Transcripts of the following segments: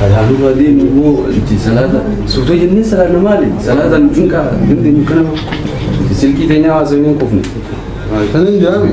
Salaatu baadiyyaa nu boo itti salaata suuta jennee salaata maali salaata nu cinqaa hundi nu kana silkii teenyaa haasawee hin qufne. Kan hin jaami.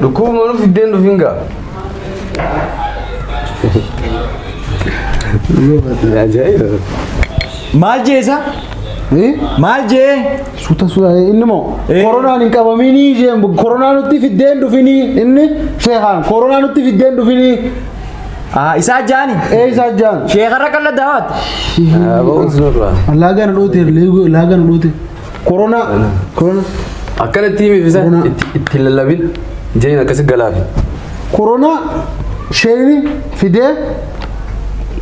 Dhukkubuma nu fiddeen dhufin gaa. Ajaa'iba. Maal jeesa? Maal jee? Suuta suuta inni moo Eh. koronaan hin qabaminii isheen koronaa nutti fiddeen dhufinii inni sheekaan koronaa nutti fiddeen dhufinii Ah, isaa jaani. ee isaa jaan. Sheekarra qalladdaa waati. Aboo osoo dura. Laagaan dhoote laagaan dhoote. Koronaa. Koronaa. Akkana itti himi fisa Koronaa. itti itti hin lallabin jeen akkasi galaafi. Koronaa. Sheeyni fidee.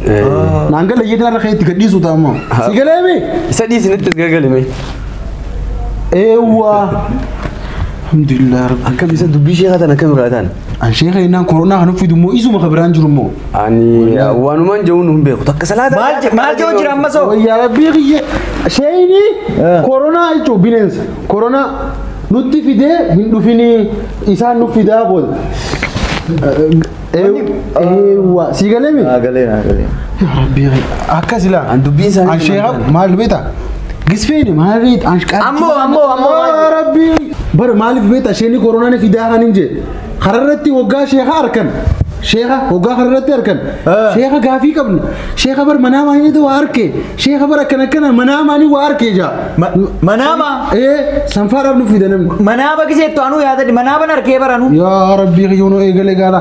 Eh, Naan gala jedhee har'a kee itti gadhiisu ta'a ammoo. Si galee mi? Isa dhiisi natti as gagalime. Eewwaa. Alhamdulillah rabbi. Akkam isa dubbii sheekaa tan akkam irraa taan? An sheeka jennaan koronaa kan uffidu immoo isuma kan biraan jiru immoo. Ani wanumaan jehuun hin beeku. Takka salaata. Maal je- maal jehuun jira ammas hoo? Wayyaa rabbii kiyya sheeyni koronaa jechuun bineensa koronaa nutti fidee hin dhufinii isaan nu fidaa booda. Eewwa sii galee mi? Galee naa galee. Rabbii kiyya akkas ilaa. An dubbiin isaanii An sheeka maal beektaa? Gisfeeni maaliif ashqaa. Ammoo, ammoo, ammoo, maaliif? Rabbii. Bara maaliif beekta isheen koronaan fidaa kan hin jedhe. Kararratti waggaa sheeka arkan. Sheeka waggaa kararratti arkan. Ah. Sheeka gaafii qabna. Sheeka bar manaa maaliitu waa arke. Sheeka bar akkana akkana manaa maalii waa arke jaa. Ma- manaama? Ee sanfaadhaaf nu fida namni. Manaaba giseettu anuu yaadadhi. Manaaban arkee baranuu. Yaa rabbii kiyyoonoo eegalee gaala.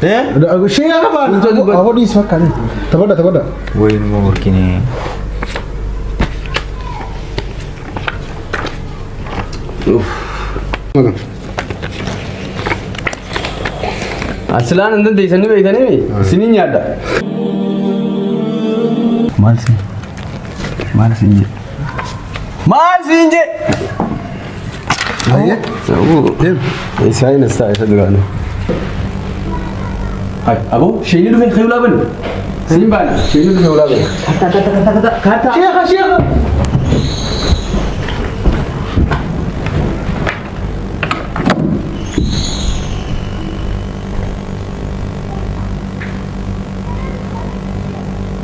Shee yaa baan. Ahoodhiis fakkaate. Tabadha tabadha. Wayne Morkini. Asilaan hin dandeessanii beektanii isiniin nyaadha. Maal sin? Maal sin jedhu? Maal siin jee? Isaa hin isaa isa duraanii. Aboo sheenii dhufee kayuu laaban. Siin baana sheenii dhufee ulaa baana. Sheekha sheekha.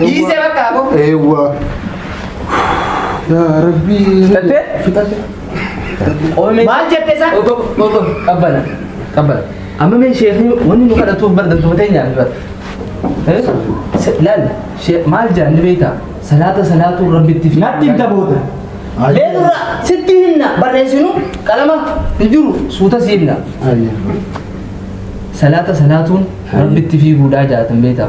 Dhiisee bakka hafu. Eewwa. Yaa rabbi. Fixattee? Fixatte. Maal jette isaa? Qabbana. Qabbana. Amma mee sheekni wanni nu kadhatuuf bar dantumatee nyaatu bar. Eh? Se- Laal shee- maal jedhan ni beektaa? Salaata salaatuu rabbitti fi. Natti himta booda. Mee dura sitti himna barreessinu qalama hin jiru suuta si himna. Salaata salaatuun rabbitti fiiguudhaa jaatan beektaa?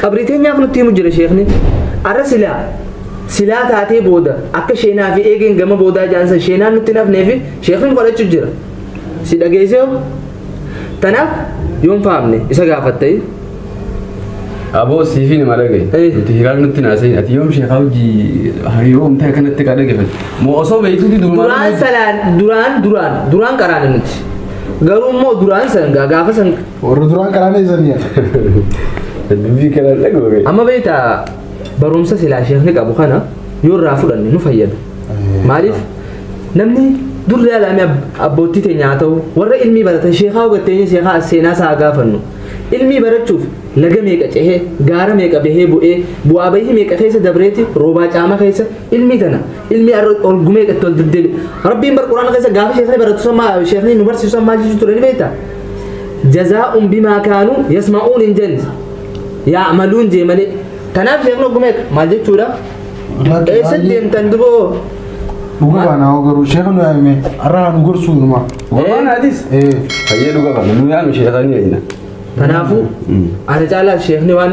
Qabrii teenyaaf nutti himu jira sheekni. Arra silaa silaa taatee booda akka sheenaa fi eegeen gama boodaa jaansa sheenaan nutti nafnee fi sheekni kadhachuu jira. Si dhageessee hoo? Tanaaf yoon faamne isa gaafattee. Aboo siifin ima dhage. Eh. Nuti hiraal nutti naasee ati yoom sheekaa hojii hariiroo umtee akkanatti kaa dhagefate. Moo osoo beektuuti durumaa. Duraan salaan duraan duraan duraan qaraana nuti. Garuu immoo duraan san gaa- gaafa san Warra duraan karaan eessanii yaa. Dubbii kanaan dhaga'ame. Amma beekta barumsa silaa sheekni qabu kana yoo irraa fudhanne nu fayyada. Maaliif namni durri alaamii abbootii teenya haa ta'u warra ilmii baratan sheekaa hubatteenya sheekaa as seenaa isaa haa gaafannu. Ilmii barachuuf laga meeqa cehee gaara meeqa bahee bu'ee bu'aa bahii meeqa keessa dabreeti roobaa caama keessa ilmii tana ilmii arra ol gumee itti ol deddeebi. Rabbiin bar quraana keessa gaafa sheekni baratu san maa sheekni nu barsiisu san maal jechuu ture ni beekta? jazaa'un bimaa kaanuu yasma'uun hin jenne yaa'maluun jee malee kanaaf sheekni ogguma eega maal jechuudha eessatti deemtan duboo Dhuga baana hoo garuu sheekha nu yaame har'aa nu gorsuu numa. Waan adis. Ee. Fayyee dhuga baana nu yaame sheekha ni eenyina. kanaafuu ana caalaa sheekni waan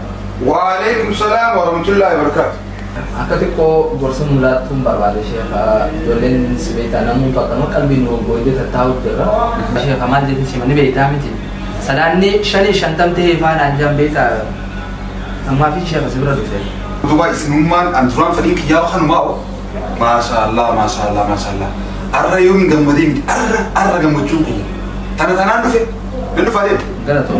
Waaleykum salaam wa rahmatullahi wa barakaatu. Akka xiqqoo gorsa nu laattuun barbaade sheekha ijoolleen si beektaa namuu bakka nama qalbiin nu gooyde tattaa'u jirra. Sheekha maal jetti sima ni beektaa miti. Salaanni shanii shantam ta'ee faanaan jaan beektaa ammaa fi sheekha si bira dhufe. Utubaa isinummaan an duraan fedhiin kiyyaa kanumaa Maashaallah maashaallah maashaallah. Arra yoo hin gammadee miti arra arra gammachuun kiyya. Tana tanaan dhufe nan dhufa deema. Galatoo.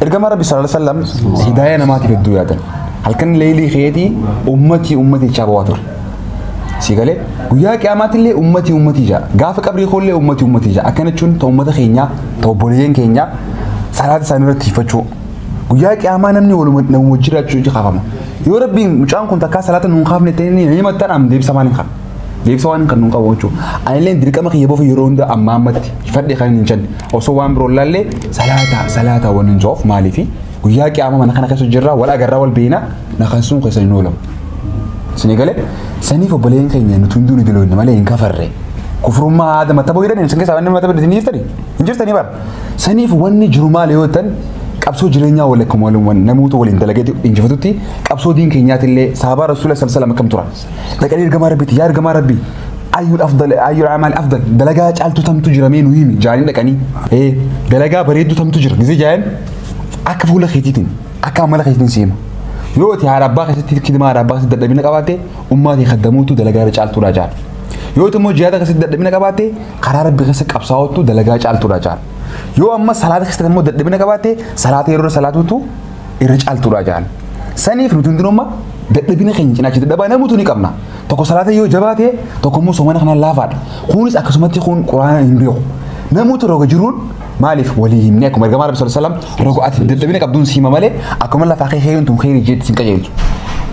Ergamaa Rabbi sallallahu alaihi wasallam hidaaya namaatiif hedduu yaadan. Halkan leelii keetii ummatii ummatii jechaa bawaa ture. Si galee guyyaa qiyaamaatti illee ummatii ummatii jaa gaafa qabrii koo illee ummatii ummatii jaa akkana jechuun ta ummata keenyaa ta obboleeyyan keenyaa salaata isaanii irratti hiffachuu. Guyyaa qiyaamaa namni waluma nama wajjin jiraachuu ija kaafama. Yoo rabbiin mucaan kun takkaa salaata nuun kaafne ta'e ni himattan am deebisa waan hin qabne. Deebisa waan hin qabne nuun qabu jechuudha. Ani illee dirqama kiyya bofa yeroo hunda ammaa ammatti hifadhe kan hin jenne. osoo waan biroo ilaallee salaataa salaataa waan hin joof maaliifi guyyaa qiyaamaa mana kana keessa jirraa wal agarraa wal beeyna na kan sun keessa hin oolamu. Isin galee saniif obboleen keenya nuti hunduu ni diloonni malee hin kafarre. Kufrummaa aada mataboo jedhan isin keessaa wanni mataboo isin jirtani hin jirtani bara. Saniif wanni jiru maal yoo ta'an qabsoo jireenyaa wal akkuma waliin namoota waliin dalagee injifatutti qabsoo diin keenyaatillee saabaa rasuula sallallahu alaihi wasallam akkam turan. dhaqanii ergamaa rabbiitti yaa ergamaa rabbii ayyul afdal ayyul amaal afdal dalagaa caaltu tamtu jira mee nu himi jaanii dhaqanii ee dalagaa bareeddu tamtu jira gisee jaayan akka fuula keetiitiin akka amala keetiitiin seema yoo ati haadha abbaa keessatti kidmaa haadha abbaa keessatti dadhabina qabaatte ummaa kee kaddamuutu dalagaa irra caaltuudha jaal yoo ati immoo jihaada keessatti dadhabina qabaatte karaa rabbi keessa qabsaa'uutu dalagaa caaltuudha jaal yoo amma salaata keessatti immoo dadhabina qabaatte salaata yeroo salaatuutu irra caaltuudha jaan. Saniif nuti hundinuu amma dadhabina keenya cinaacha dadhabaa namuutu ni qabna. Tokko salaata yoo jabaate tokko immoo soomana kanaan laafaadha. Kunis akkasumatti kun quraana hin beeku. Namuutu roga jiruun maaliif walii himne akkuma ergamaa rabbi sallallahu alaihi wasallam roga ati dadhabina qabduun siima malee akkuma lafaa kee heeruun tun heerii jeetti sin qajeelchu.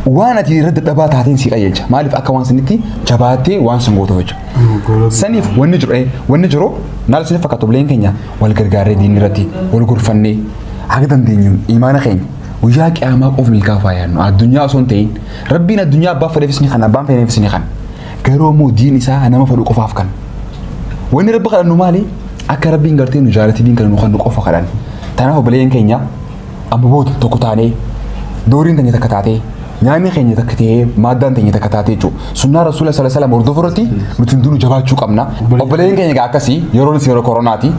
Waan ati irra dadhabaa taateen si qajeelcha. Maaliif akka waan sanitti jabaattee waan sun gootu jechuudha. Saniif wanni jiru eh, wanni jiru naal siniif fakkaatu bileen keenya wal gargaarree diinni irratti wal gorfannee Haga dandeenyuun imaana keenya guyyaa qiyaamaa qof milkaa'uuf haa yaadnu. Addunyaa osoo hin ta'in rabbiin addunyaa abbaa fedheefis ni kan abbaan fedheefis ni kan. Garuu ammoo diin isaa nama fedhu qofaaf kan. Wanni rabbi kadhannu maali? Akka rabbiin gartee nu jaalatti diin kana nu kan nu qofa kadhan. Tanaaf obboleeyyan keenya amma booda tokko taanee dooriin keenya takka taatee nyaanni keenya takka ta'ee maaddaan keenya takka taatee jechuudha. Sunnaa rasuula sallallahu alaihi wasallam hordofuu irratti nuti hundinuu jabaachuu qabna. Obboleeyyan keenya egaa akkasii yeroon isin yeroo koronaati.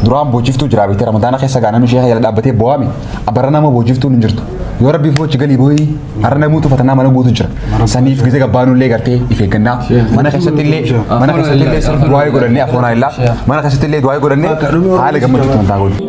Duraan boojiftuu jiraa beekte ramadaana keessa gaa namni sheeka jala dhaabbatee boo'ame abarra nama boojiftuun hin jirtu. Yoo rabbi foochi galii boo'ii har'a namuu tufatanaa mana guutu jira. Saniif gizee gabbaanuu illee gartee if eeggannaa mana keessatti illee mana keessatti illee sirbi du'aayii godhannee afoonaa illaa mana keessatti illee du'aayii godhannee haala gammachuutti wantaa godhu.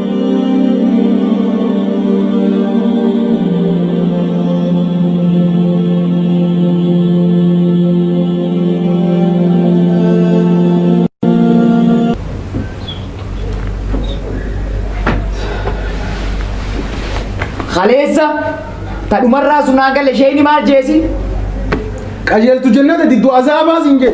Kaleessa ta dhumarraa sun haa gale isheen maal jeesi? Qajeeltu jennata diddu azaabaa siin jee.